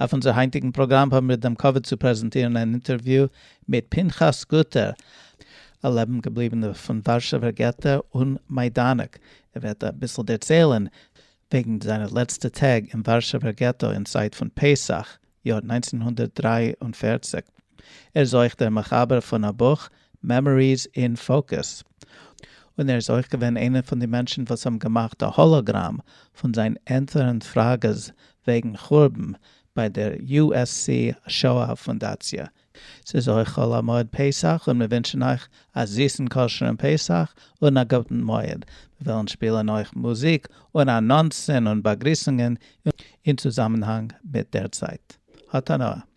אויף אונזער היינטיגן פראגראם האבן מיר דעם כבוד צו פרעזענטירן אן אינטערוויו מיט פנחס גוטער, א לעבן געבליבענער פון ווארשעווער געטא און מיידאנעק, ער וועט אביסל דערציילן וועגן זיינע לעצטע טעג אין ווארשעווער געטא אין צייט פון פסח, יאר נײַנצן הונדערט דרײַ און פֿערציק. ער איז אויך דער מחבר פון א בוך Memories in Focus, און ער איז אויך געווען איינער פון די מענטשן וואס האבן געמאכט א האלאגראם פון זיין ענטפערן פראגעס וועגן חורבן ביי דער USC שואה פונדאציע. ס'איז אויך חול המועד פסח און מיר ווינטשן אייך א זיסן כשר'ן פסח און א גוטן מועד. מיר וועלן שפילן אויך מוזיק און אנאנסן און באגריסונגען אין צוזאמענהאנג מיט דער צייט. האט הנאה!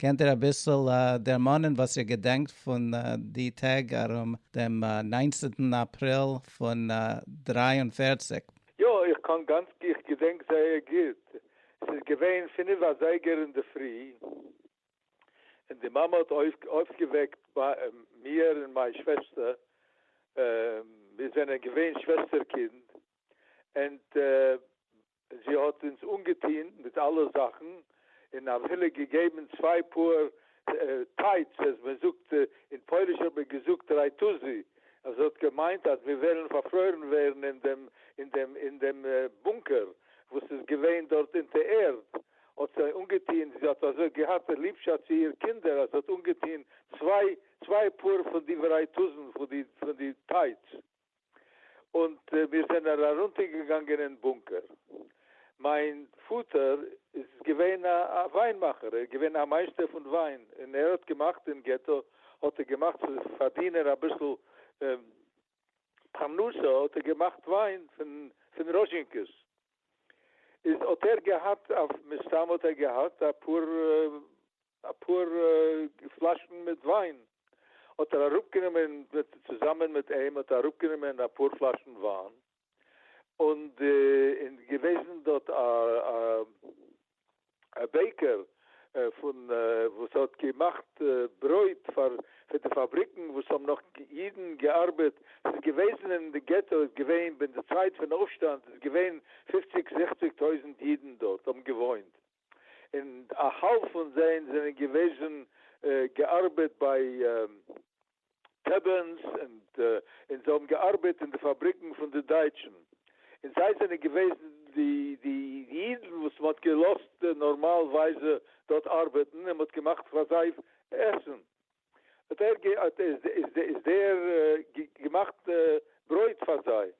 קענט איר אביסל דערמאנען וואס איר געדענקט פון די טעג ארום דעם ניינצנטן אפריל פון דרײַ און פֿערציק? יא, איך קען גאנץ גוט, איך געדענק זייער גוט, ס'איז געווען פינף אזייגער אינדערפרי, און די מאמע האט אויפגעוועקט מיר און מיין שוועסטער, מיר זענען געווען שוועסטער קינד, ענד זי האט אונז אנגעטוהן מיט אלע זאכן, און אפילו געגעבן צוויי פאהר טייטס, אז מען זאגט אין פויליש האט מען געזאגט רייטוזי, אז האט געמיינט אז מיר וועלן פארפרוירן ווערן אין דעם אין דעם אין דעם בונקער וואס איז געווען דארט אונטער ערד, האט זיי אנגעטוהן, זי האט אזוי געהאט ליבשאפט צו איר קינדער אז זי האט אנגעטוהן צוויי צוויי פאהר פון די ווערייטוזן פון די פון די טייטס. און מיר זענען ארונטער געגאנגען אין בונקער. מיין פאטער איז געווען א וויין מאכער, ער איז געווען א מייסטער פון וויין, און ער האט געמאכט אין געטא, האט ער געמאכט צו פארדינען אביסל פרנסה האט ער געמאכט וויין פון ראזשינקעס, איז האט ער געהאט, מסתם האט ער געהאט אפאר א פאר פלאשן מיט וויין האט ער אראפ גענומען, צוזאמען מיט אים האט ער אראפ גענומען א פאר פלאשן וויין, און די און געוועזן דארט א א בעיקער פון וואס האט געמאכט ברויט פאר פון די פאבריקן וואס האבן נאך אידן געארבעט, ס'איז געוועזן אין די געטא איז געווען ווען די צייט פון אויפשטאנד איז געווען פופציג זיכציג טויזנט אידן דארט האבן געוואוינט, און א האלב פון זיי זענען געוועזן געארבעט ביי טעבערנס און זיי האבן געארבעט אין די פאבריקן פון די דייטשן און זיי זענען געוועזן די אידן וואס מען האט געלאזט נארמאלווייז דארט ארבעטן און מען האט געמאכט פאר זיי עסן. האט ער גע האט איז איז איז דער גע געמאכט ברויט פאר זיי,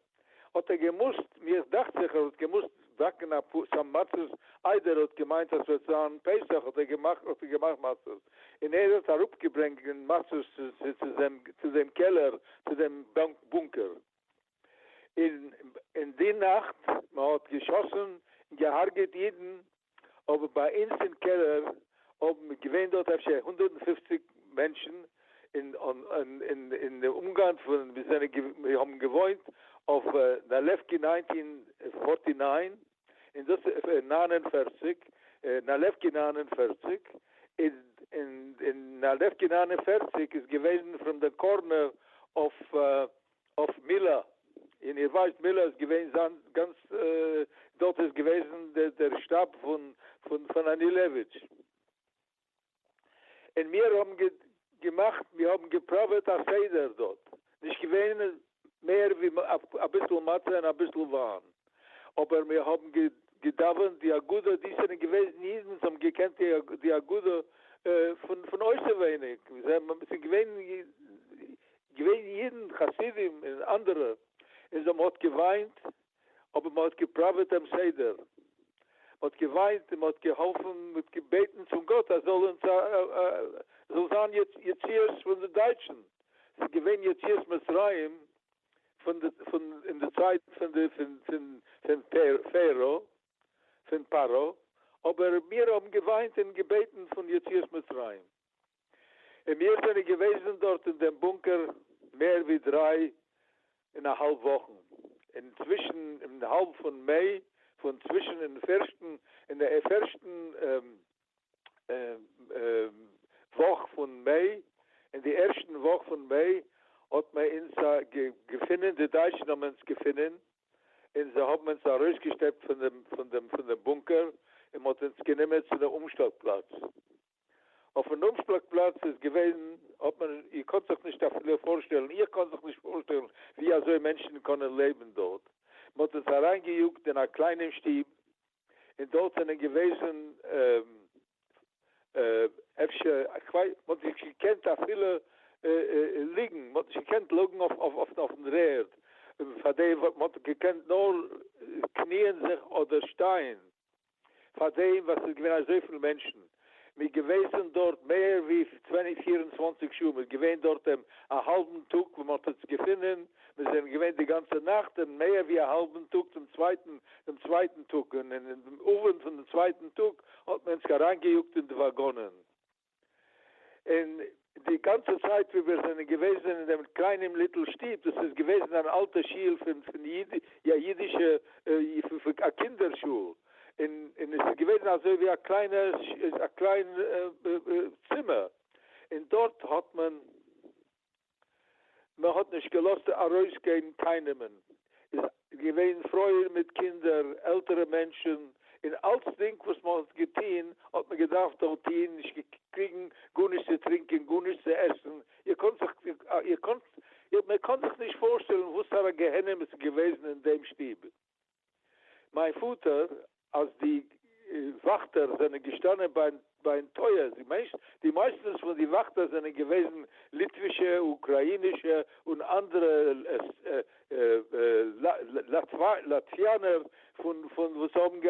האט ער געמוזט מיך דאכט זיך ער האט געמוזט באקן א פאר סאם מצות איידער ער האט געמיינט אז ס'וועט זיין פסח האט ער געמאכט האט ער געמאכט מצות, און ער האט אראפ געברענגט די מצות צו צו צו דעם קעלער צו דעם בונקער. אין די נאכט מען האט געשאסן און געהארגעט אידן אבער ביי אונז אין קעלער האבן געווען דארט אפשר הונדערט און פופציג מענטשן און אין די אומגענט פון ווי זענען מיר האבן געוואוינט אויף נאלעווקי ניינטין פארטי ניין און דאס ניין און פערציג נאלעווקי ניין און פערציג און נאלעווקי ניין און פערציג איז געווען פרום די קארנער אויף אויף מילא, און איר ווייסט מילא איז געווען זיין גאנץ, דארט איז געוועזן דער שטאב פון פון אנילעוויטש, און מיר האבן געמאכט, מיר האבן געפראוועט א סדר דארט, נישט געווען מער ווי אביסל מצה און אביסל וויין, אבער מיר האבן געדאווענט די הגדה, די זענען געוועזן אידן וואס האבן געקענט די הגדה פון אויסעווייניג, ס'איז געווען געווען אידן חסידים און אנדערע און זיי האבן האט געוויינט אבער מען האט געפראוועט דעם סדר מען האט געוויינט און מען האט געהאלפן מען האט געבעטן צום גאט אז זאל אונז זאל זיין יציאת פון די דייטשן ס'איז געווען יציאת מצרים פון די פון אין די צייט פון די פון פון פון פערא פון פרעה אבער מיר האבן געוויינט און געבעטן פון יציאת מצרים. און מיר זענען געוועזן דארט אין דעם בונקער מער ווי דריי און א האלב וואכן, און צווישן אין האלב פון מאי, פון צווישן אין פערשטן אין די פערשטן וואך פון מאי, אין די ערשטן וואך פון מאי האט מען אונז געפונען, די דייטשן האבן אונז געפונען, און זיי האבן אונז ארויסגעשטעפט פון דעם בונקער, און מען האט אונז גענומען צו דעם אומשטאט פלאץ. אויפן אפשלאג פלאץ איז געווען האט מען איר קאנט זיך נישט אפילו פארשטעלן איך קען זיך נישט פארשטעלן ווי אזוי מענטשן קענען לעבן דארט מען האט אונז אריין געיאגט אין א קליינעם שטוב און דארט זענען געוועזן אפשר איך ווייס מען האט נישט געקענט אפילו ליגן מען האט נישט געקענט לויגן אויפן רערד פאר דעם מען האט געקענט נאר קניען זיך אדער שטיין. פאר דעם וואס ס'איז געווען אזויפיל מענטשן, מ'איז געוועזן דארט מער ווי פֿיר און צוואַנציק שעה, מ'איז געווען דארט דעם א האלבן טאג וואו מ'האט אונז געפונען, מיר זענען געווען די גאנצע נאכט און מער ווי א האלבן טאג דעם צווייטן דעם צווייטן טאג, און אין דעם אווענט פון דעם צווייטן טאג האט מען אונז אריינגעיאגט אין די וואגאנען. און די גאנצע צייט ווי מיר זענען געוועזן אין דעם קליינעם ליטל שטוב, דאס איז געוועזן אן אלטע שול פון פון א אידישע א קינדער שול, און און עס איז געוועזן אזוי ווי א קליינע א קליין צימער, און דארט האט מען. מען האט נישט געלאזט ארויסגיין קיינעמען, איז געווען פרויען מיט קינדער, עלטערע מענטשען, און אלצדינג וואס מען האט געטוהן האט מען געדארפט דארט טוהן, נישט געקריגן גארנישט צו טרינקען, גארנישט צו עסן, איר קאנט זיך, איר קאנט, מען קאן זיך נישט פארשטעלן וואסארא גיהנום עס איז געוועזן אין דעם שטוב. מיין פאטער אז די וואכטער זענען געשטאנען ביים טויער, דו מיינסט? די מייסטענס פון די וואכטער זענען געוועזן ליטווישע, אוקראינישע און אנדערע לאטוויאנער וואס האבן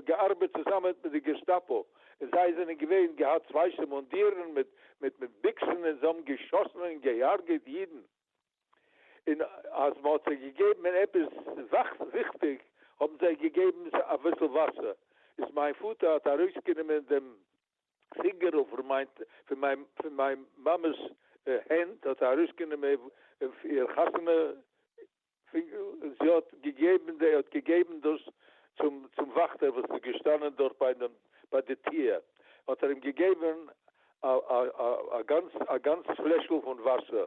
געארבעט צוזאמען מיט די געסטאפא, און זיי זענען געווען געהאט ווייסע מונדירן מיט ביקסן און זיי האבן געשאסן און געהארגעט אידן. און אז מ'האט זיי געגעבן עפעס וויכטיג האבן זיי געגעבן אביסל וואסער, איז מיין פאטער האט ארויסגענומען דעם פינגערל פון מיין פון מיין מאמע'ס הענט האט ער ארויסגענומען איר חתונה פינגערל און זי האט געגעבן ער האט געגעבן דאס צום צום וואכטער וואס איז געשטאנען דארט ביי דעם ביי די טיר האט ער אים געגעבן א גאנץ א גאנץ פלעשל פון וואסער.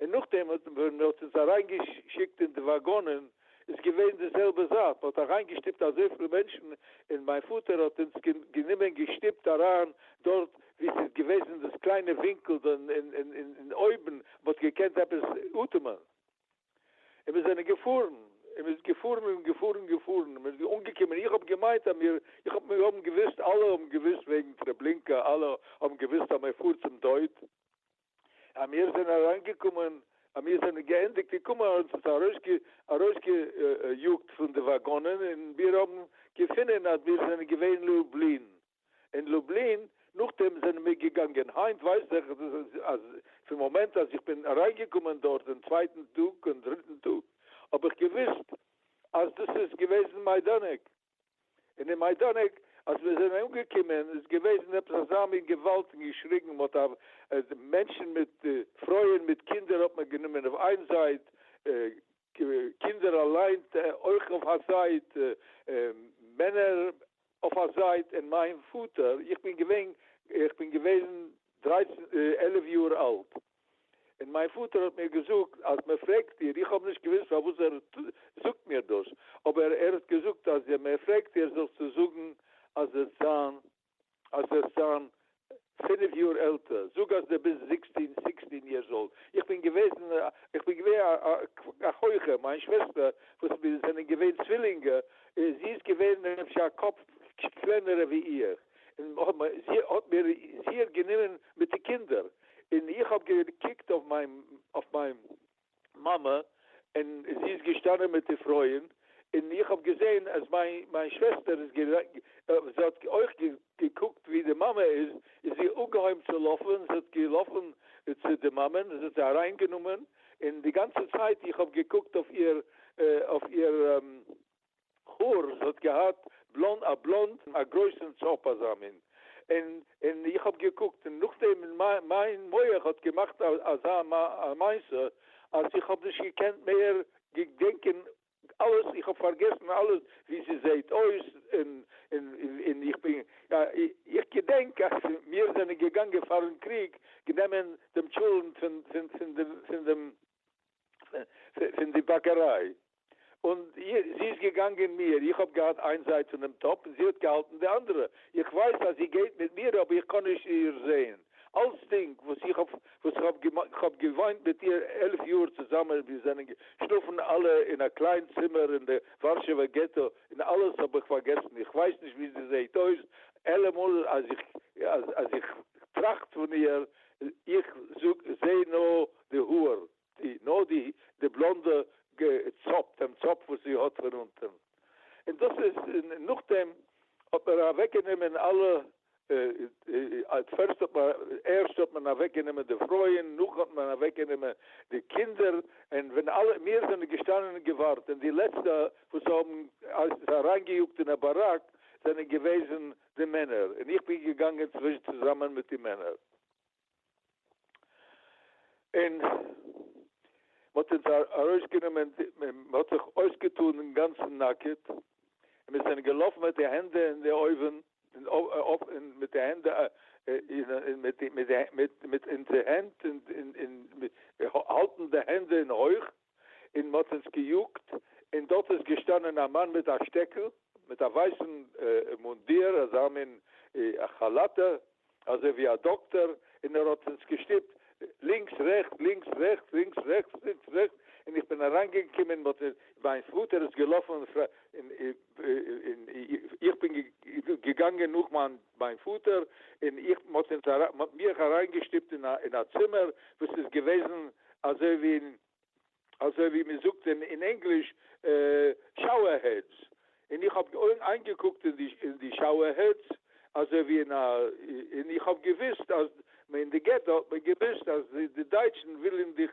און נאכדעם האט ווען מען האט אונז אריין געשיקט אין די וואגאנען איז געווען די זעלבע זאך, מען האט אריין געשטיפט אזויפיל מענטשן, און מיין פאטער האט אונז גענומען געשטיפט אריין דארט ווי ס'איז געוועזן דאס קליינע ווינקל דא אין אויבן מען האט געקענט עפעס אטעמען, און מיר זענען געפארן און מ'איז געפארן און געפארן און געפארן און מ'איז אנגעקומען איך האב געמיינט אז מיר איך האב מיר האבן געוויסט אלע האבן געוויסט וועגן טרעבלינקא אלע האבן געוויסט אז מ'פארט צום טויט, אז מיר זענען אריינגעקומען, אז מיר זענען געענדיגט געקומען, האט עס ארויסגעיאגט פון די וואגאנען, און מיר האבן געפונען אז מיר זענען געווען אין לובלין. אין לובלין, נאכדעם זענען מיר געגאנגען. היינט ווייס איך אז פון מאמענט אז איך בין אריינגעקומען דארט דעם צווייטן טאג און דריטן טאג, האב איך געוואוסט אז דאס איז געוועזן מיידאנעק. און אין מיין דאנעק אז מיר זענען אנגעקומען איז געוועזן עפעס אזא מין געוואלד און געשריגן מען האט אוו מענטשן מיט פרויען מיט קינדער האט מען גענומען אויף איין זייט קינדער אליין אויך אויף א זייט מענער אויף א זייט און מיין פאטער איך בין געווען איך בין געוועזן דרייצן עלף יאר אלט און מיין פאטער האט מיר געזאגט אז מען פרעגט דיר, איך האב נישט געוואוסט פארוואס ער זאגט מיר דאס, אבער ער האט געזאגט אז מען פרעגט דיר זאלסטו זאגן אז זעסט זיין אז זעסט זיין פינף יאר עלטער, זאג אז די ביסט זיקסטין סיקסטין יערס אולד, איך בין געוועזן איך בין געווען א הויכער, מיין שוועסטער וואס מיר זענען געווען צווילינגע, זי איז געווען אפשר א קאפ קלענערע ווי איך, און האט מיר זיכער גענומען מיט די קינדער, און איך האב געקוקט אויף מיין מאמע, און זי איז געשטאנען מיט די פרויען, און איך האב געזען אז מיין שוועסטער איז, זי האט אויך געקוקט ווי די מאמע איז, איז זי אפגעהויבן צו לויפן, זי האט געלאפן צו די מאמע'ן, און זי האט זיי אריינגענומען, און די גאנצע צייט איך האב געקוקט אויף איר, אויף איר. האר, זי האט געהאט בלאנד, א בלאנד, א גרויסן טשאפ אזא מין, און און איך האב געקוקט, און נאכדעם מיין מח האט געמאכט אזא מעשה אז איך האב נישט געקענט מער געדענקען אלעס, איך האב פארגעסן אלעס ווי זי זעהט אויס, און און און איך בין, איך געדענק אז מיר זענען געגאנגען פארן קריג גענומען דעם טשולענט פון פון פון דעם. פון די באקעריי, און זי איז געגאנגען מיר, איך האב געהאט איין זייט פון דעם טאפ און זי האט געהאלטן די אנדערע, איך ווייס אז זי גייט מיט מיר אבער איך קען נישט איר זעהן, אלצדינג וואס איך האב וואס איך האב געוואוינט מיט איר עלף יאר צוזאמען, מיר זענען געשלאפן אלע אין א קליין צימער אין די ווארשעווע געטא, און אלעס האב איך פארגעסן, איך ווייס נישט ווי זי זעהט אויס, אלעמאל אז איך טראכט פון איר, איך זאג זעה נאר. די האר, די, נאר די, די בלאנדע ג צאפ, דעם צאפ וואס זי האט פון אונטען. און דאס איז, און נאכדעם האט מען אוועק גענומען אלע, עט פערסט האט מען, ערשט האט מען אוועק גענומען די פרויען, נאכן האט מען אוועק גענומען די קינדער, און ווען אלע, מיר זענען געשטאנען און געווארט, און די לעצטע וואס האבן אונז אריין געיאגט אין א באראק זענען געוועזן די מענער, און איך בין געגאנגען צווישן צוזאמען מיט די מענער. און מ'האט אונז ארויסגענומען, מ'האט זיך אויסגעטאן אינגאנצן נאקעט, און מיר זענען געלאפן מיט די הענדע אין די אויבן, און מיט די הענדע אין, מיט אונזער הענט אין, האלטן די הענדע אין הויך, און מ'האט אונז געיאגט, און דארט איז געשטאנען א מאן מיט א שטעקל, מיט א ווייסן מונדיר, אזא מין כאלאטע, אזוי ווי א דאקטאר, און ער האט אונז געשטופט לינקס רעכטס, לינקס רעכטס, לינקס רעכטס, לינקס רעכטס, און איך בין אריינגעקומען, מיין פאטער איז געלאפן, און איך בין געגאנגען נאך מיין מיין פאטער און איך מען האט אונז אריין מען האט מיך אריין געשטופט אין א אין א צימער וואס איז געוועזן אזוי ווי אין אזוי ווי מען זאגט אין אין ענגליש שאוער העדס און איך האב איינגעקוקט אין די אין די שאוער העדס אזוי ווי אין א און איך האב געוויסט אז מען אין די געטא האט מען געוויסט אז די דייטשן ווילען דיך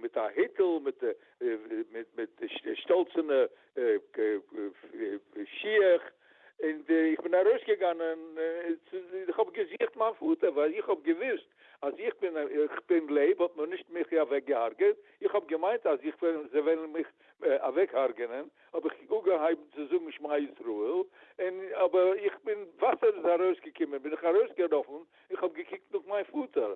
מיט א היטל מיט שטאלצענע שיך, און איך בין ארויסגעגאנען, איך האב געזוכט מיין פאטער, ווייל איך האב געוואוסט אז איך בין איך בין לעב, האט מען נישט מיך אוועק געהארגעט, איך האב געמיינט אז איך וועל זיי וועלן מיך אוועק הארגענען, האב איך אגעהייבן צו זאגן שמע ישראל, און אבער איך בין וואסער איז ארויסגעקומען, בין איך ארויסגעלאפן, איך האב געקוקט נאך מיין פאטער,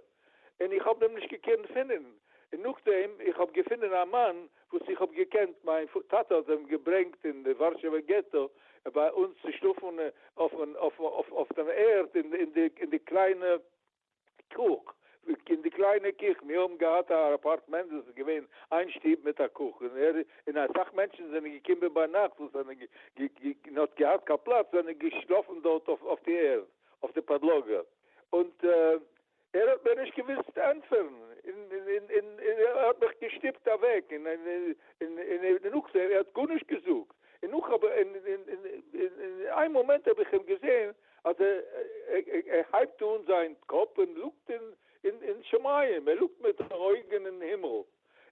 און איך האב אים נישט געקענט פינען, און נאכדעם איך האב געפינען א מאן וואס איך האב געקענט, מיין טאטע האט אים געברענגט אין די ווארשעווע געטא ביי אונז צו שלאפן אויף דעם ערד אין די קליינע קוך, אין די קליינע קיך, מיר האבן געהאט א אפארטמענט וואס איז געווען איין שטוב מיט א קוך, און אסאך מענטשן זענען געקומען ביינאכט וואס זענען נישט געהאט קיין פלאץ זענען געשלאפן דארט אויף די ערד אויף די פאדלאגע. און ער האט מיר נישט געוואוסט ענטפערן, און ער האט מיך געשטופט אוועק, און און נאך ער האט גארנישט געזאגט, און נאך האב איך, און איין מאמענט האב איך אים געזען אז ער הייבט אן זיין קאפ און לוקט אין שמים, ער לוקט מיט די אויגן אין הימל, און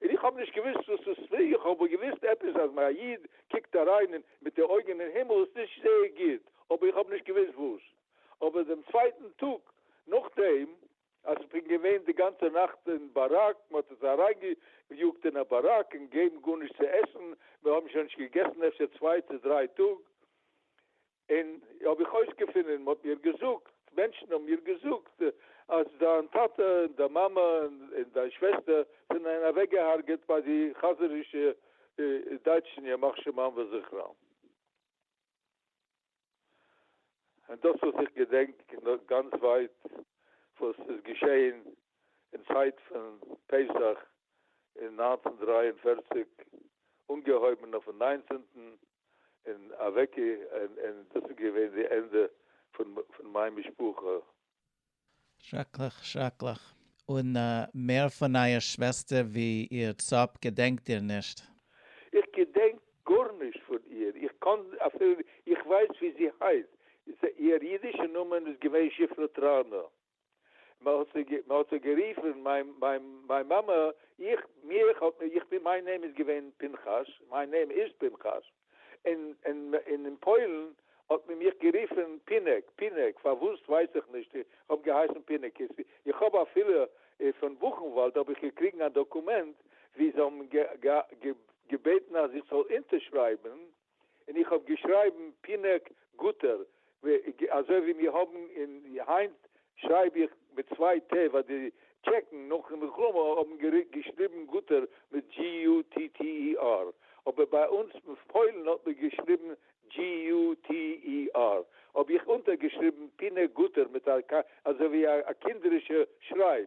איך האב נישט געוואוסט וואס עס איז, איך האב אבער געוואוסט עפעס אז א איד קוקט אריין מיט די אויגן אין הימל איז נישט זייער גוט, אבער איך האב נישט געוואוסט וואס. אבער דעם צווייטן טאג נאכדעם אז כ'בין געווען די גאנצע נאכט אין באראק, מ'האט אונז אריינגעיאגט אין א באראק און געבן גארנישט צו עסן, מיר האבן שוין נישט געגעסן אפשר צוויי צו דריי טאג, און האב איך אויסגעפונען, מ'האט מיר געזאגט, מענטשן האבן מיר געזאגט, אז דיין טאטע און דיין מאמע און דיין שוועסטער זענען אוועקגע'הרג'עט ביי די חזירישע דייטשן ימח שמם וזכרם. און דאס וואס איך געדענק גאנץ ווייט וואס איז געשעהן אין צייט פון פסח אין נײַנצן דרײַ און פֿערציק אנגעהויבן אויפן ניינצענטן און אוועק און דאס איז געווען די ענדע פון מיין משפחה. שרעקליך שרעקליך. און מער פון אייער שוועסטער ווי איר צאפ געדענקט איר נישט? איך געדענק גארנישט פון איר, איך קאן אפילו, איך ווייס ווי זי הייסט, איר אידישע נאמען איז געווען שפרה טראנא, מען האט זי מען האט זי גערופן, מיין מיין מיין מאמע, איך מיך האט מען, איך בין מיין נעים איז געווען פנחס, מיין נעים איז פנחס. און אין פוילן האט מען מיך גערופן פינעק, פינעק, פארוואס ווייס איך נישט, איך האב געהייסן פינעקיס, איך האב אפילו פון בוכנוואלד האב איך געקריגן א דאקומענט ווי זיי האבן געבעטן אז איך זאל אונטערשרייבן און איך האב געשרייבן פינעק גוטער אזוי ווי מיר האבן אין היינט שרייב איך מיט צוויי ט ווייל די טשעקן נאכן מלחמה האבן געשריבן גוטער מיט GUTTER אבער ביי אונז פוילן האט מען געשריבן GUTER האב איך אונטערגעשריבן פינע גוטער מיט א אזוי ווי א קינדערישע שרייב.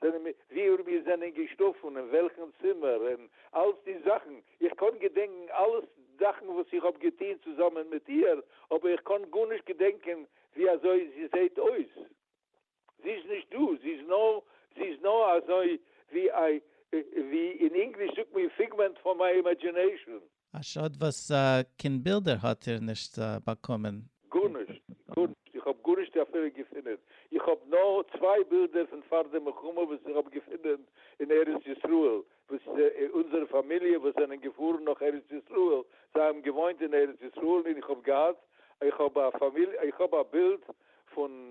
זענען מיר, וואו מיר זענען געשלאפן, אין וועלכן צימער, און אלץ די זאכן. איך קען געדענקן אלעס זאכן וואס איך האב געטון צוזאמען מיט איהר, אבער איך קען גארנישט געדענקן ווי אזוי זי זעהט אויס. זי איז נישט דא, זי איז נאר, זי איז נאר אזוי ווי א, ווי אין ענגליש זאגט מען, פיגמענט פון מיי אימעדזשינעישאן. א שאד וואס קיין בילדער האט איר נישט באקומען. גארנישט, גארנישט, איך האב גארנישט אפילו געפונען, איך האב נאר צוויי בילדער פון פאר די מלחמה וואס איך האב געפונען אין ארץ ישראל, וואס אונזערע פאמיליע וואס זענען געפארן נאך ארץ ישראל, זיי האבן געוואוינט אין ארץ ישראל און איך האב געהאט, איך האב א פאמיליע, איך האב א בילד פון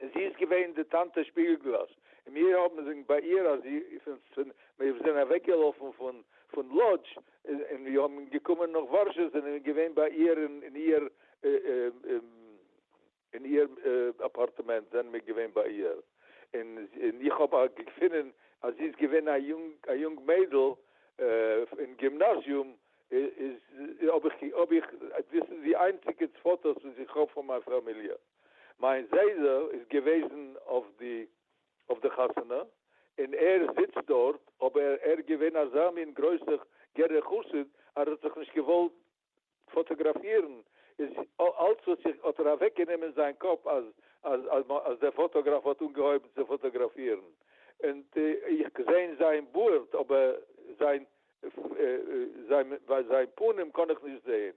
און זי איז געווען די טאַנטע שפּיגלגלאָז, און מיר האָבן זינגט בײַ איר, אַז פֿון מיר זענען אַוועקגעלאָפֿן פֿון פֿון לאָדזש און מיר האָבן געקומען נאָך וואַרשע, זענען מיר געווען בײַ איר אין אין איר אין איר אַפּאַרטמענט זענען מיר געווען בײַ איר, און און איך האָב אַ געפֿונען, אַז זי איז געווען אַ יונג אַ יונג מיידל אין גימנאַזיום, איז האָב איך האָב איך דאָס איז די איינציקע פֿאָטאָס וואָס איך האָב פֿון מײַן פֿאַמיליע. מיין זיידע איז געוועזן אויף די אויף די חתונה און ער זיצט דארט אבער ער איז געווען אזא מין גרויסע גערער חסיד אז ער האט זיך נישט געוואלט פאטאגראפירן איז אלץ האט זיך האט ער אוועק גענומען אין זיין קאפ אז אז אז דער פאטאגראף האט אנגעהויבן צו פאטאגראפירן און איך געזען זיין בארד אבער זיין זיין פנים קען איך נישט זען.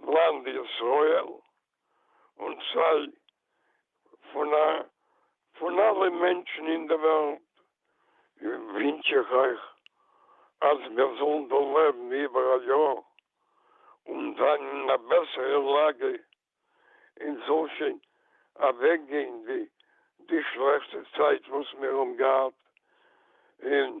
לאנד ישראל און סיי פון פון אלע מענטשן אין די וועלט ווינטש איך אייך אז מיר זאלן דא לעבן איבער א יאר און זיין אין א בעסערע לאגע און ס'זאל שוין אוועק גיין די די שלעכטע צייט וואס מיר האבן געהאט און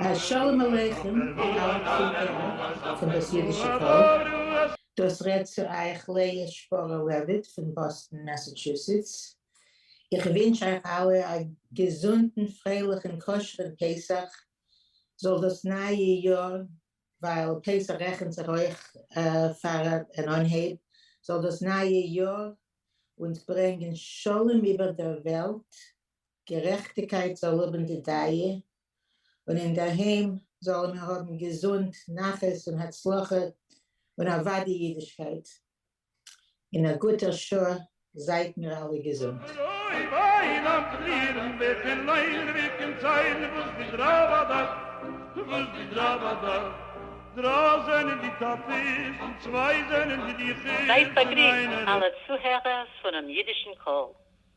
א שלום עליכם און אלע קינדער פון דאס אידישע פאלק. דאס רעדט צו אייך לאה שפארא לעוויט פון באסטן מעסעטשוסעטס. איך ווינטש אייך אלע א געזונטן פרייליכן כשר'ן פסח. זאל דאס נייע יאר, ווייל פסח רעכנט זיך אויך פאר אן אנהייב, זאל דאס נייע יאר אונז ברענגען שלום איבער דער וועלט, גערעכטיקײט זאָל האָבן די דײַע, און אין דער הײם זאָלן מיר האָבן געזונט, נחת און הצלחה, און אַװדאי ייִדישקײט. אין אַ גוטער שעה, זײַט מיר אַלע געזונט. זײַט באַגריסט, אַלע צוהערערס פֿונעם ייִדישן קול!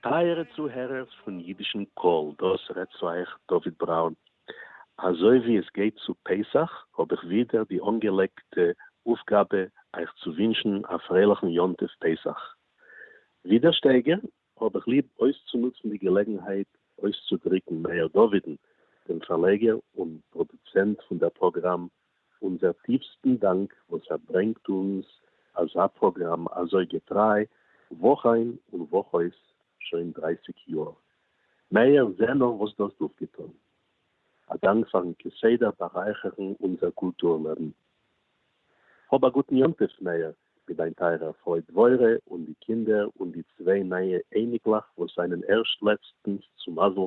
טייערע צוהערערס פון אידישן קול, דאס רעדט צו אייך דוד בראון. אזוי ווי עס גייט צו פסח האב איך ווידער די אנגעלייגטע אויפגאבע אייך צו ווינטשן א פרייליכן יום טוב פסח. ווי דער שטייגער האב איך ליב אויסצונוצן די געלעגנהייט אויסצודריקן מאיר דאווידן, דעם פארלייגער און פראדוצענט פון דער פראגראם אונזער טיפסטן דאנק וואס ער ברענגט אונז אזא פראגראם אזוי געטריי וואך איין און וואך אויס שוין דרייסיג יאר. מעהר זע נאר וואס דו האסט אויפגעטון. א דאנק פארן כסדר בארייכערן אונזער קולטור לעבן. האב א גוטן יום טוב מעהר מיט דיין טייערער פרוי דבורה און די קינדער און די צוויי נייע אייניקלעך וואס זענען ערשט לעצטנס צו מזל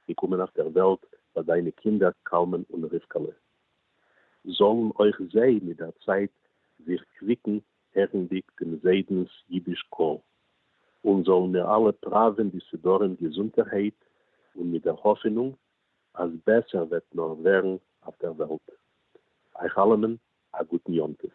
געקומען אויף דער וועלט ביי דיינע קינדער קלמן און רבקה'לע. זאָלן אויך זיי מיט דער צייט זיך קוויקן הערנדיק דעם זיידנס יידיש קול, און זאָלן מיר אַלע פּראַווען די סידורים געזונטערהייט און מיט דער האָפענונג, אַז בעסער וועט נאָר ווערן אויף דער וועלט. אייך אַלעמען אַ גוטן יום-טוב.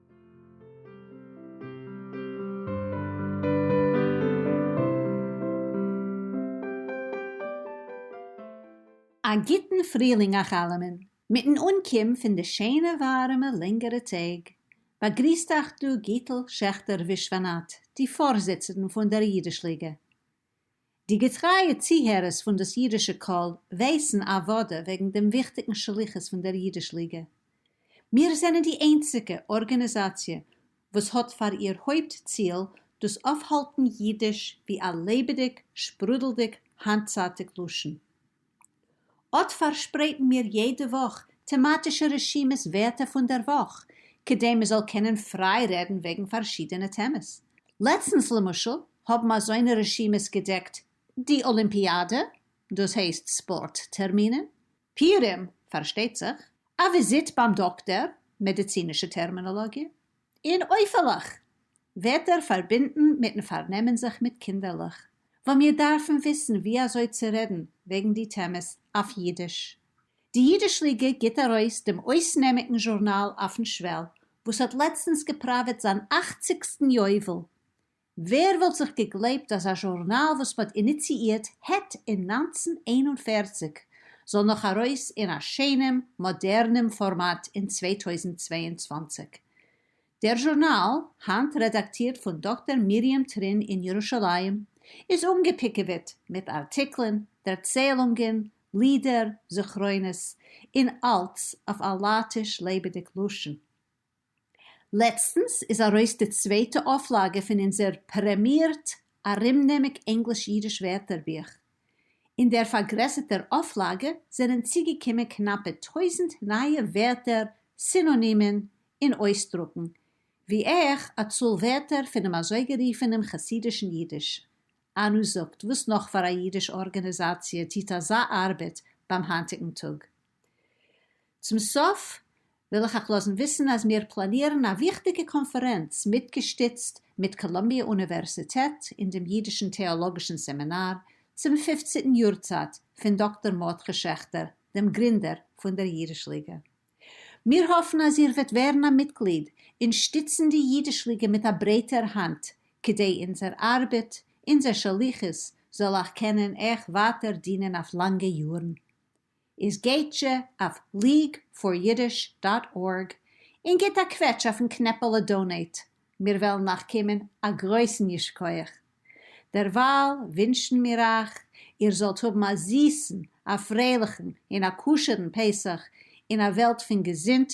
א גוטן פרילינג אייך אלעמען! מיטן אנקום פון די שענע ווארעמע לענגערע טעג, באגריסט אייך דא גיטל שעכטער ווישוואנאט, די פארזיצערן פון דער אידיש ליגע. די געטרייע צוהערערס פון דאס אידישע קול ווייסן אוודא וועגן דעם וויכטיגן שליחות פון דער אידיש ליגע. מיר זענען די איינציגע ארגאניזאציע וואס האט פאר איר הויפט ציל דאס אויפהאלטן אידיש ווי א לעבעדיג, שפרודלדיג, היינטצייטיג לשון. אט פארשפרייטן מיר יעדע וואך טעמאטישע רשימת ווערטער פון דער וואך, כדי מען זאל קענען פריי רעדן וועגן פארשידענע טעמעס. לעצטנס למשל האבן אזוינע רשימות געדעקט די אלימפיאדע, דאס הייסט ספארט טערמינען, פיורים, פארשטייט זיך, א וויזיט ביים דאקטער, מעדיצינישע טערמינאלאגיע, און אויפעלעך ווערט ער פארבינדן מיטן פארנעמען זיך מיט קינדערלעך, וואו מיר דארפן וויסן ווי אזוי צו רעדן וועגן די טעמעס אויף אידיש. די אידיש ליגע גיט ארויס דעם אויסנעמיגן זשורנאל אויפן שוועל, וואס האט לעצטנס געפראוועט זיין אכציגסטן יובל, ווער וואלט זיך געגלייבט אז א זשורנאל וואס מ'האט איניציאירט העט אין נײַנצן איין און פֿערציק זאל נאך ארויס אין א שענעם מאדערנעם פארמאט אין צוויי טויזנט צוויי און צוואַנציק. דער זשורנאל, היינט רעדאקטירט פון דאקטער מרים טרין אין ירושלים, איז אנגעפיקעוועט מיט ארטיקלען, דערציילונגען, לידער, זכרונות, און אלץ אויף א לייטיש לעבעדיג לשון. לעצטנס איז ארויס די צווייטע אויפלאגע פון אונזער פרעמירט ארומנעמיק ענגליש-אידיש ווערטערבוך. אין דער פארגרעסערטער אויפלאגע זענען צוגעקומען קנאפע טויזנט נייע ווערטער, סינאנימען און אויסדרוקן, ווי אויך א צאל ווערטער פונעם אזויגערופענעם חסידישן אידיש. אנו זאגט, וואס נאך פאר א אידיש ארגאניזאציע טוט אזא ארבעט ביים היינטיגן טאג? צום סוף וויל איך אייך לאזן וויסן אז מיר פלאנירן א וויכטיגע קאנפערענץ מיטגעשטיצט מיט קאלומביע אוניווערסיטעט אין דעם אידישן טעאלאגישן סעמינאר צום פופציטן יארצייט פון דאקטאר מרדכי שעכטער דעם גרינדער פון דער אידיש ליגע. מיר האפן אז איר וועט ווערן א מיטגליד און שטיצן די אידיש ליגע מיט א ברייטער האנט כדי אונזער ארבעט, אונזער שליחות, זאל אייך קענען אייך ווייטער דינען אויף לאנגע יארן. איז גייטזשע אויף ליג פאר אידיש דאט ארג און גיט א קוועטש אויפן קנעפעלע דאנעיט, מיר וועלן אייך קומען א גרויסן ייש כח. דערווייל ווינטשן מיר אייך איר זאלט האבן א זיסן, א פרייליכן און א כשר'ן פסח אין א וועלט פון געזונט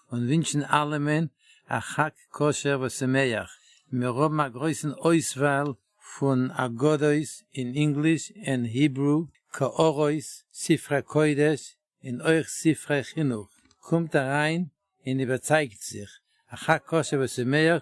און ווינטשן אלעמען א חג כשר ושמח, מיר האבן א גרויסן אויסוואל פון אגדות אין ענגליש ענד היברו, קערות, ספרי קודש און אויך ספרי חינוך, קומט אריין און איבערצייגט זיך, א חג כשר ושמח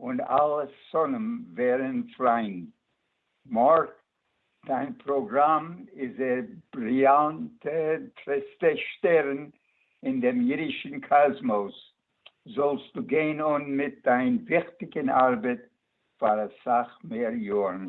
און אלע שונאים ווערען פריינד. מארק, דיין פראגראם איז דער בריליאנטעסטע שטערן אין דעם אידישען קאזמאוס. זאלסטו גיין אן מיט דיין וויכטיגען ארבעט פאר אסאך מער יארן.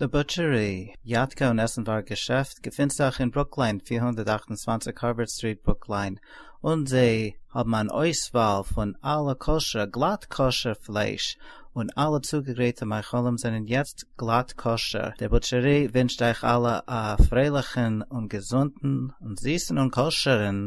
די בוטשערי, יאטקע און עסנווארג געשעפט געפינט זיך אין ברוקליין פֿיר הונדערט אַכט און צוואַנציק הארווארד סטריט ברוקליין און זיי האבן אן אויסוואל פון אלע כשר, גלאט כשר, פלייש און אלע צוגעגרייטע מאכלים זענען יעצט גלאט כשר. די בוטשערי ווינטשט אייך אלע א פרייליכן און געזונטן און זיסן און כשר'ן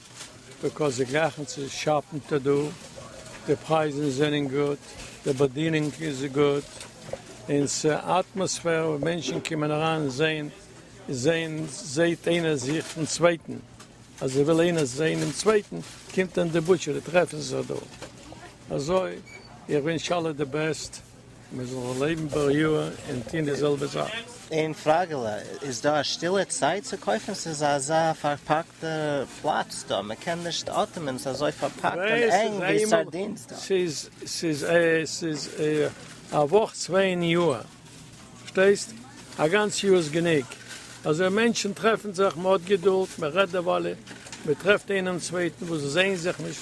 ביקאויס זיי גרייכן צו שאפן טא דא, די פרייזן זענען גוט, די באדינונג איז גוט, און ס'אטמאספער וואו מענטשן קומען אריין זעהן זעהן זעהט איינער זיך פון צווייטן, אז ער וויל איינער זעהן דעם צווייטן קומט ער אין די בוטשערי טרעפן זיך דא, אזוי איך ווינטש אלע די בעסט. מיר זאלן לעבן בעל יאוה און טון די זעלבע זאך. איין פראגעלע, איז דא א שטילע צייט צו קויפן? ס'איז אזא פארפאקטע פלאץ דא, מען קען נישט אטעמען, ס'איז אזוי פארפאקט און ענג ווי סארדינס דא. ס'איז א וואך צוויי אין יאר, פארשטייסט? א גאנץ יאר איז גענוג, אזוי מענטשן טרעפן זיך, מען האט געדולד, מען רעדט דערוואלע, מען טרעפט איינעם צווייטן וואס זעען זיך נישט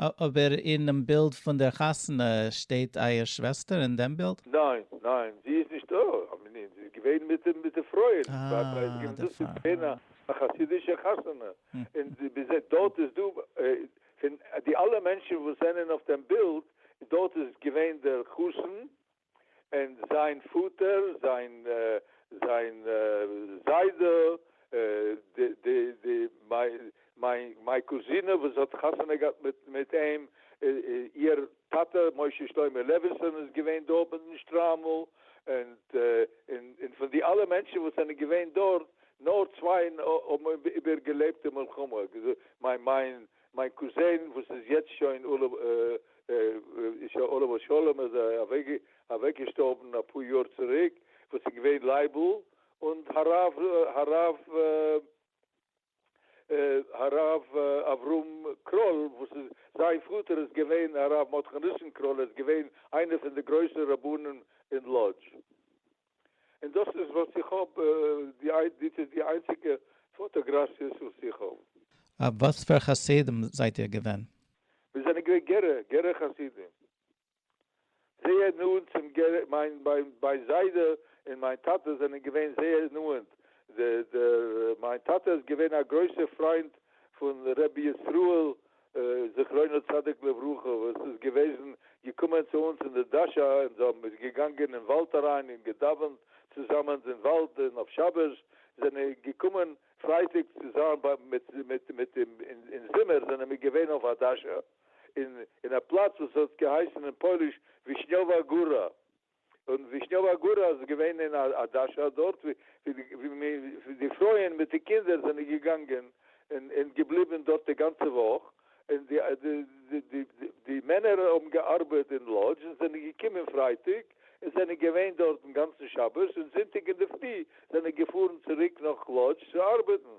אבער אינעם בילד פון דער חתונה שטייט אייער שוועסטער אין דעם בילד? ניין, ניין, זי איז נישט דא, א מנין, זי איז געווען מיט די מיט די פרויען, און צוויי פרויען איז געווען דאס איז געווען א חסידישע חתונה, און דארט איז דא פון די אלע מענטשן וואס זענען אויף דעם בילד, דארט איז געווען דער חתן און זיין פאטער, זיין זיין זיידע, די מיין קוזינע וואס האט חתונה געהאט מיט אים, איהר טאטע משה שלמה לעוויסאן איז געווען דארט מיט דעם שטריימל, און פון די אלע מענטשן וואס זענען געווען דארט, נאר צוויי האבן איבערגעלעבט די מלחמה, מיין מיין קוזין וואס איז יעצט שוין עליו השלום איז אוועק געשטארבן אפאר יאר צוריק, וואס איז געווען לייבל און הרב אברהם קראל וואס איז זיין פאטער איז געווען הרב מרדכי ניסן קראל ער איז געווען איינער פון די גרויסע רבנים אין לאדזש. און דאס איז וואס איך האב, דאס איז די איינציגע פאטאגראפיעס וואס איך האב. אויף וואס פאר חסידים זייט איר געווען? מיר זענען געווען גערע, גערע חסידים. זייער נאנט צום גערע, מיין מיין זיידע און מיין טאטע זענען געווען זייער נאנט, דער דער מיין טאטע איז געווען א גרויסער פריינד פון רבי ישראל זכרונו צדיק לברכה וואס איז געוועזן געקומען צו אונז אין די דאשע און זיי האבן איז געגאנגען אין וואלד אריין און געדאווענט צוזאמענס אין וואלד און אויף שבת זענען געקומען פרייטאג צו זיין ביי מיט מיט מיט אים אין זומער זענען מיר געווען אויף א דאשע אין אין א פלאץ וואס האט געהייסן אין פויליש ווישניאווא גארא און ווישניאווא גורא איז געווען אין א דאשא דארט ווי די פרויען מיט די קינדער זענען געגאנגען און געבליבן דארט די גאנצע וואך, און די מענער האבן געארבעט אין לאדזש און זענען געקומען פרייטאג און זענען געווען דארט דעם גאנצן שבת, און זונטאג אינדערפרי זענען געפארן צוריק נאך לאדזש צו ארבעטן.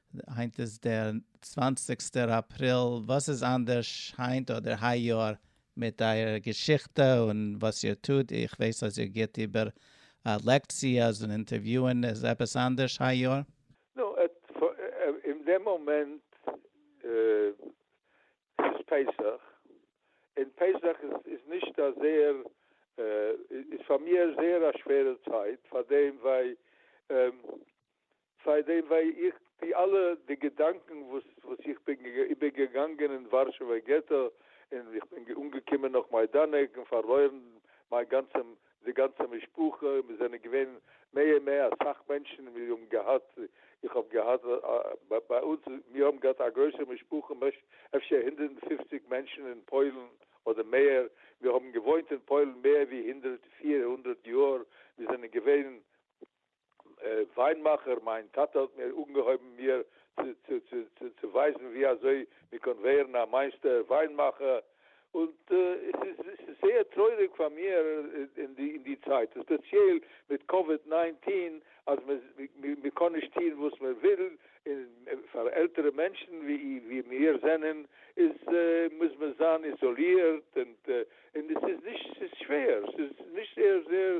היינט איז דער צוואנציגסטער אפריל, וואס איז אנדערש היינט אדער היי יאר מיט אייער געשיכטע און וואס איר טוט? איך ווייס אז איר גיבט איבער לעקציעס און אינטערוויוען, איז עפעס אנדערש היי יאר? נו, אין דעם מאמענט ס'איז פסח, און פסח איז נישט א זייער, איז פאר מיר זייער א שווערע צייט, פארדעם ווייל סיי דעם וועי איך טוה אלע די געדאנקען וואס וואס איך בין איבערגעגאנגען אין ווארשעווער געטא און איך בין אנגעקומען נאך מיידאנעק און פארלוירן מיין גאנצע די גאנצע משפחה און מיר זענען געווען מ מ אסאך מענטשן און מיר האבן געהאט איך האב געהאט ביי אונז מיר האבן געהאט א גרויסע משפחה אפשר הונדערט און פופציג מענטשן אין פוילן אדער מער מיר האבן געוואוינט אין פוילן מער ווי הונדערט פיר הונדערט יאר מיר זענען געווען וויינמאכער, מיין טאטע האט מיר אנגעהויבן מיר צו ווייזן ווי אזוי מען קען ווערן א מייסטער וויינמאכער, און עס איז זייער טרויעריג פאר מיר אין די צייט, און ספעציעל מיט קאוויד ניינטין, אז מען קען נישט טון וואס מען וויל, און פאר עלטערע מענטשן ווי מיר זענען, איז מוז מען זיין איזאלירט, און עס איז שווער, עס איז נישט זייער זייער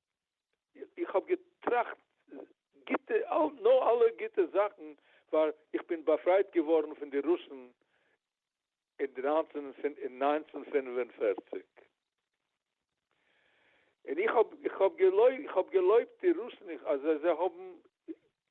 איך האב געטראכט גוטע נאר אלע גוטע זאכן פאר איך בין באפרייט געווארן פון די רוסן אין נײַנצן פֿינף און פֿערציק און איך האב געלויבט די רוסן אז זיי האבן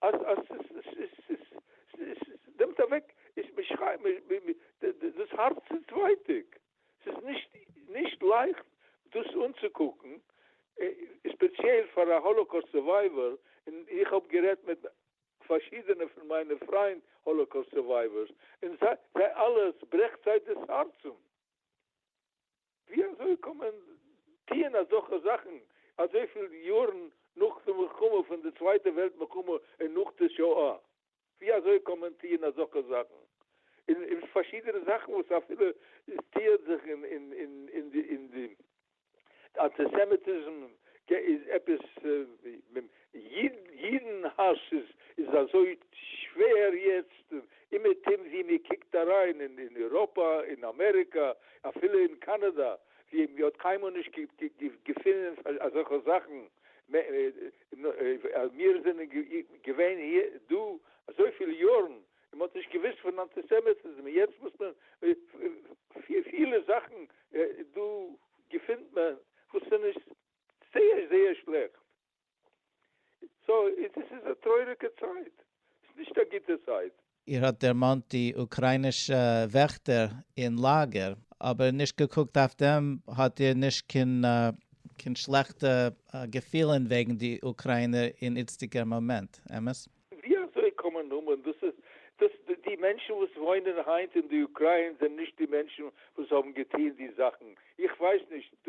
אז עס נעמט אוועק דאס הארצענס-ווייטאג, עס איז נישט לייכט דאס אנצוקוקן, ספעציעל פאר א האלאקאוסט סורווייווער, און איך האב גערעדט מיט פארשידענע פון מיינע פריינט האלאקאוסט סורווייווערס, און זיי אלע עס ברעכט זיי דאס הארצען. ווי אזוי קען מען טוען אזעלכע זאכן אזויפיל יארן נאך די מלחמה פון די צווייטע וועלט מלחמה און נאך די שואה, ווי אזוי קען מען טוען אזעלכע זאכן און און פארשידענע זאכן וואס אפילו עס טוען זיך אין אין אין אין די אין די אנטיסעמיטיזם איז עפעס ווי. אידן האס איז איז אזוי שווער יעצט אומעטום ווי מען קוקט אריין אין איראפא אין אמעריקא אפילו אין קאנאדא ווי מען האט קיינמאל נישט געפינען אזעלכע זאכן מיר זענען געווען דא אזויפיל יארן און מען האט נישט געוויסט פון אנטיסעמיטיזם און יעצט מוז מען פילע זאכן דא געפינט מען וואס איז נישט זייער זייער שלעכט. סוי דאס איז א טרויעריגע צייט, ס'איז נישט א גוטע צייט. איר האט דערמאנט די אוקריינישע וועכטער אין לאגער, אבער נישט געקוקט אויף דעם האט איר נישט קיין שלעכטע געפילען וועגן די אוקריינער אין איצטיגער מאמענט, אמת? ווי אזוי קען מען האבען דאס איז דאס די מענטשען וואס וואוינען היינט אין די אוקריין זענען נישט די מענטשען וואס האבען געטוהן די זאכען איך ווייס נישט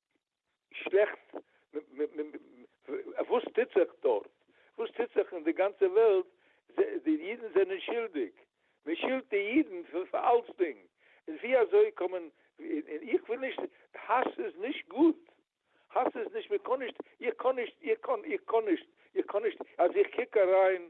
שלעכט, וואס טוט זיך דארט, וואס טוט זיך אין די גאנצע וועלט, די אידן זענען שולדיג, מען שולדט די אידן פאר אלצדינג, איז ווי אזוי קען מען, און איך וויל נישט, האס איז נישט גוט, האס איז נישט, מען קען נישט, איך קען נישט, איך קען, איך קען נישט, איך קען נישט, אז איך קוק אריין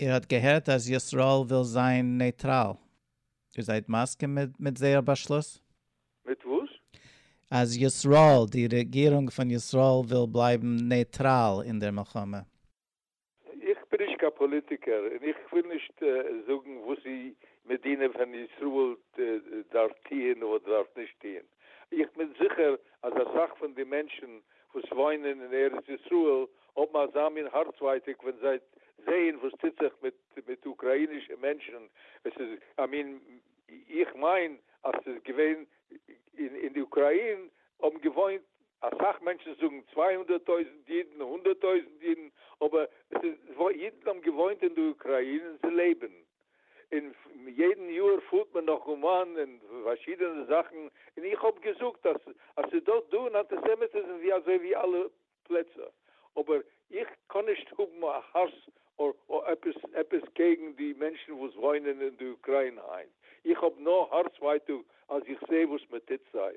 איר האט געהערט אז ישראל וויל זיין נייטראל? איר זייט מסכים מיט זייער באשלוס? מיט וואס? אז ישראל, די רעגירונג פון ישראל וויל בלייבן נייטראל אין דער מלחמה. איך בין נישט קיין פאליטיקער און איך וויל נישט זאגן וואס די מדינה פון ישראל דארף טוהן אדער דארף נישט טוהן. איך בין זיכער אז אסאך פון די מענטשן וואס וואוינען אין ארץ ישראל האבן אזא מין הארצווייטיג ווען זיי זעען וואס טוט זיך מיט אוקראינישע מענטשן, עס איז א מין, איך מיין אז עס איז געווען אין אוקראין האבן געוואוינט אסאך מענטשן, זאגן צוויי הונדערט טויזנט אידן, הונדערט טויזנט אידן, אבער עס איז, אידן האבן געוואוינט אין די אוקראין און זיי לעבן, און יעדן יאר פארט מען נאך אומאן און פארשידענע זאכן, און איך האב געזאגט אז ס'איז דא דא אן אנטיסעמיטיזם ווי אזוי ווי אלע פלעצער, אבער איך קען נישט האבן א האס אדער עפעס עפעס קעגן די מענטשן וואס וואוינען אין די אוקריינע היינט, איך האב נאר הארץ ווייטאג אז איך זעה וואס מ'טוט זיי.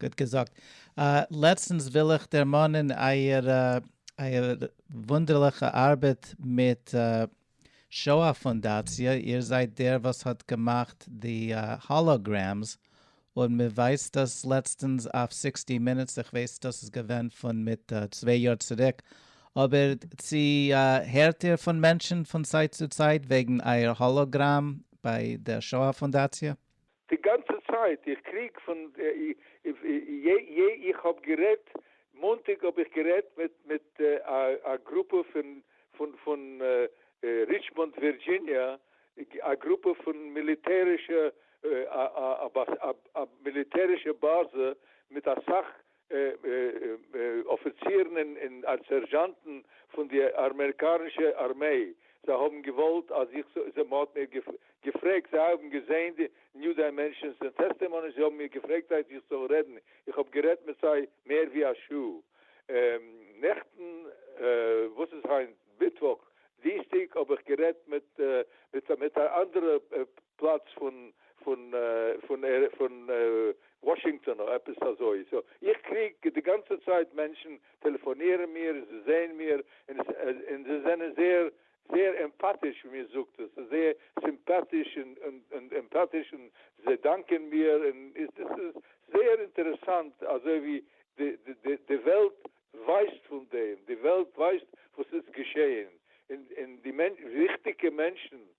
גוט געזאגט. לעצטנס וויל איך דערמאנען אייער אייער וואונדערליכע ארבעט מיט שואה פונדאציע, איר זייט דער וואס האט געמאכט די האלאגרעמס, און מען ווייזט דאס לעצטנס אויף סיקסטי מינוטס, איך ווייס דאס איז געווען פון מיט צוויי יאר צוריק, אבער צו הערט איר פון מענטשן פון צייט צו צייט וועגן אייער האלאגראם ביי דער שואה פונדאציע? די גאנצע צייט איך קריג פון איך האב גערעדט מאנטאג האב איך גערעדט מיט א גרופע פון ריטשמאנד ווירדזשיניע א גרופע פון מיליטערישע א מיליטערישע באזע מיט אסאך אפיצירן און סערזשאנטן פון די אמעריקאנישע ארמיי, זיי האבן געוואלט אז איך זאל, מען האט מיר געפרעגט, זיי האבן געזען די ניו דיימענשאנס און טעסטעמאניס, זיי האבן מיר געפרעגט אז איך זאל רעדן, איך האב גערעדט מיט זיי מער ווי א שעה נעכטן, וואס איז היינט? מיטוואך, דינסטאג האב איך גערעדט מיט מיט א אנדערע פלאץ פון פון פון פון וואשינגטאן אדער עפעס אזוי, סאו איך קריג די גאנצע צייט מענטשן טעלעפאנירן מיר, זיי זעען מיר, און און זיי זענען זייער זייער עמפאטיש ווי מען זאגט עס, זייער סימפאטיש און און עמפאטיש און זיי דאנקען מיר, און דאס איז זייער אינטערעסאנט אזוי ווי די די די וועלט ווייסט פון דעם, די וועלט ווייסט וואס איז געשעהן, און און די וויכטיגע מענטשן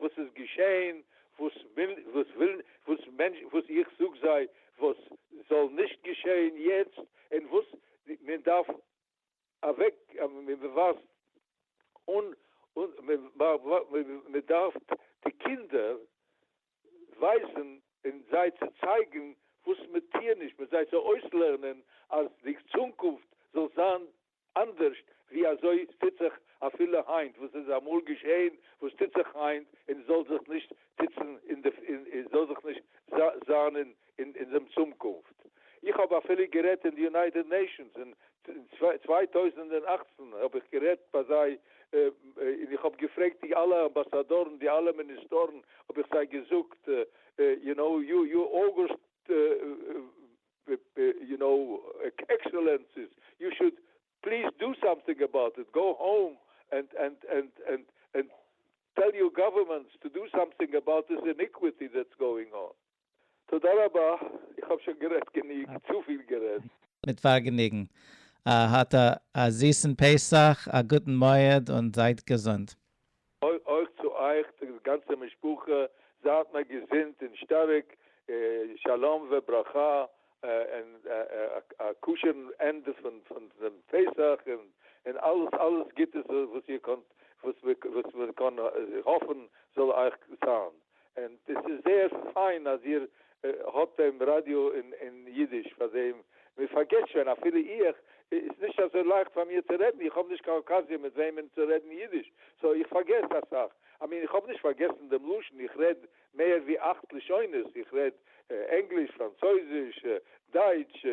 וואס איז געשעהן וואס איך זאג זיי וואס זאל נישט געשעהן יעצט און וואס מען דארף אוועק מען ווייזט אן מען דארף די קינדער ווייזען און זיי צו צייגען וואס מען טוהט נישט מען זיי צו אויסלערנען אז די צונקופט זאל זיין אנדערשט ווי אזוי עס טוט זיך אפילו היינט, וואס איז אמאל געשעהן, וואס טוט זיך היינט, און זאל זיך נישט טוצן אין די, און זאל זיך נישט זיין אין אין דעם צאמקונפט. איך האב אפילו גערעדט אין די יונייטעד נעישאנס אין צוויי טויזנט און אַכצן האב איך גערעדט ביי זיי, און איך האב געפרעגט די אלע אמבאסאדארן, די אלע מיניסטארן, האב איך זיי געזאגט, יו נאו, יו אגו, יו נאו עקסעלענסיס יו שוד פליז דא סאמטינג אבאוט איט גאו האום ענד טעל יור גאווערמענטס טו דא סאמטינג אבאוט דיס איניקוויטי דעטס גאוינג אן. תודה רבה, איך האב שוין גערעדט גענוג, צופיל גערעדט. מיט פארגעניגן. האט א זיסן פסח, א גוטן מועד און זייט געזונט. אויך צו אייך די גאנצע משפחה, זייט מיר געזונט און שטארק, שלום וברכה, און א כשר'ן ענדע פון דעם פסח, און אלעס אלעס גוטס וואס איר קענט וואס מען קען האפן זאל אייך זיין. און עס איז זייער פיין אז איר האט דעם ראדיא אין אידיש פאר דעם, מען פארגעסט שוין אפילו איך, איז נישט אזוי לייכט פאר מיר צו רעדן, איך האב נישט קיין אקאזיע מיט וועמען צו רעדן אידיש, סאו איך פארגעס אסאך, I mean איך האב נישט פארגעסן דעם לשון, איך רעד מער ווי אכט לשונות, איך רעד ענגליש, פראנצויזיש, דייטש,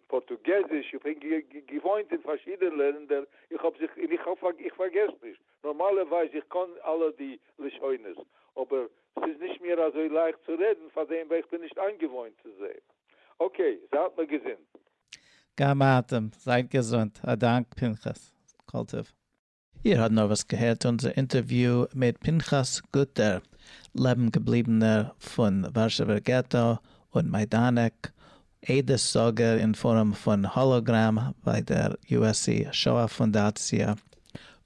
פארטוגעזיש, איך בין געוואוינט אין פארשידענע לענדער, איך האב זיך, און איך פארגעס נישט. נארמאלע ווייז איך קאן אלע די לשונות אבער סאיז נישט מיר אזוי לייכט צו רעדן פאר דעם ווייל איך בין נישט איינגעוואוינט צו זיי. אקעי זייט מיר געזונט. גם אתם זייט געזונט. א דאנק פנחס. כל טוב. איר האט נארוואס געהערט אונזער אינטערוויו מיט פנחס גוטער, לעבן געבליבענער פון ווארשעווער געטא און מיידאנעק, עדות זאגער אין פארעם פון האלאגראם ביי דער USC שואה פונדאציע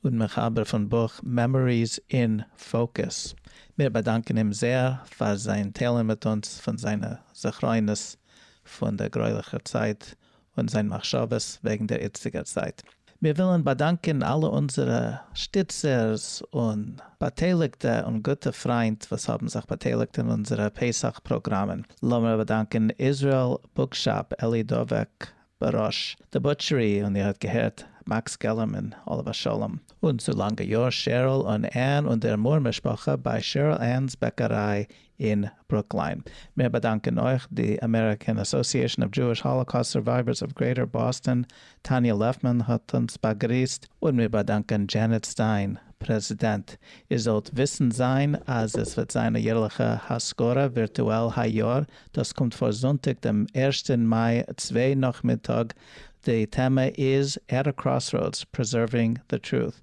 און מחבר פון בוך מעמאריס אין פאוקוס. מיר באדאנקען אים זעהר פאר זיין טיילן מיט אונז פון זיינע זכרונות פון דער גרויליכער צייט און זיין מחשבות וועגן דער איצטיגער צייט. מיר ווילן באדאנקען אלע אונזערע שטיצערס און באטייליגטע און גוטע פריינט וואס האבן זיך באטייליגט אין אונזערע פסח פראגראמען. לאמיר באדאנקען איזראעל בוקשאפ, אלי דובק, בראש די בוטשערי, און איר האט געהערט מעקס געלערמאן, עליו השלום. און צו לאנגע יאר שערל און ען און דער מור משפחה ביי שערל ען'ס בעקעריי אין ברוקלין. מיר באדאנקען אויך די אמעריקען אסאסיעשאן אוו דזשואיש האלאקאסט סורווייווערס אוו גרעיטער באסטאן, טאניא לעפמאן האט אונז באגריסט, און מיר באדאנקען דזשענעט סטיין, פרעזידענט. איר זאלט וויסן זיין אז עס וועט זיין א יערליכע הזכרה ווירטואל היי יאר, דאס קומט פאר זונטאג דעם ערשטען מאי צוויי נאכמיטאג, די טעמע איז At a Crossroads, Preserving the Truth.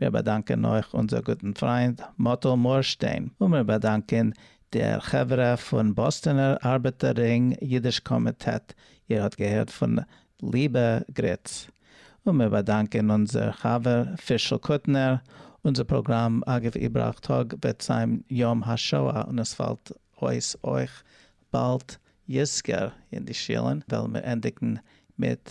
מיר באדאנקען אויך אונזער גוטן פריינד מאטל מוהרשטיין, און מיר באדאנקען דער חברה פון באסטענער ארבעטער רינג אידיש קאמיטעט, איר האט געהערט פון ליבע גריץ, און מיר באדאנקען אונזער חבר פישל קוטנער, אונזער פראגראם אגב איבראך טאג וועט זיין יום השואה און עס פאלט אויס אויך באלד יזכר אין די שילן וועלן מיר ענדיגן מיט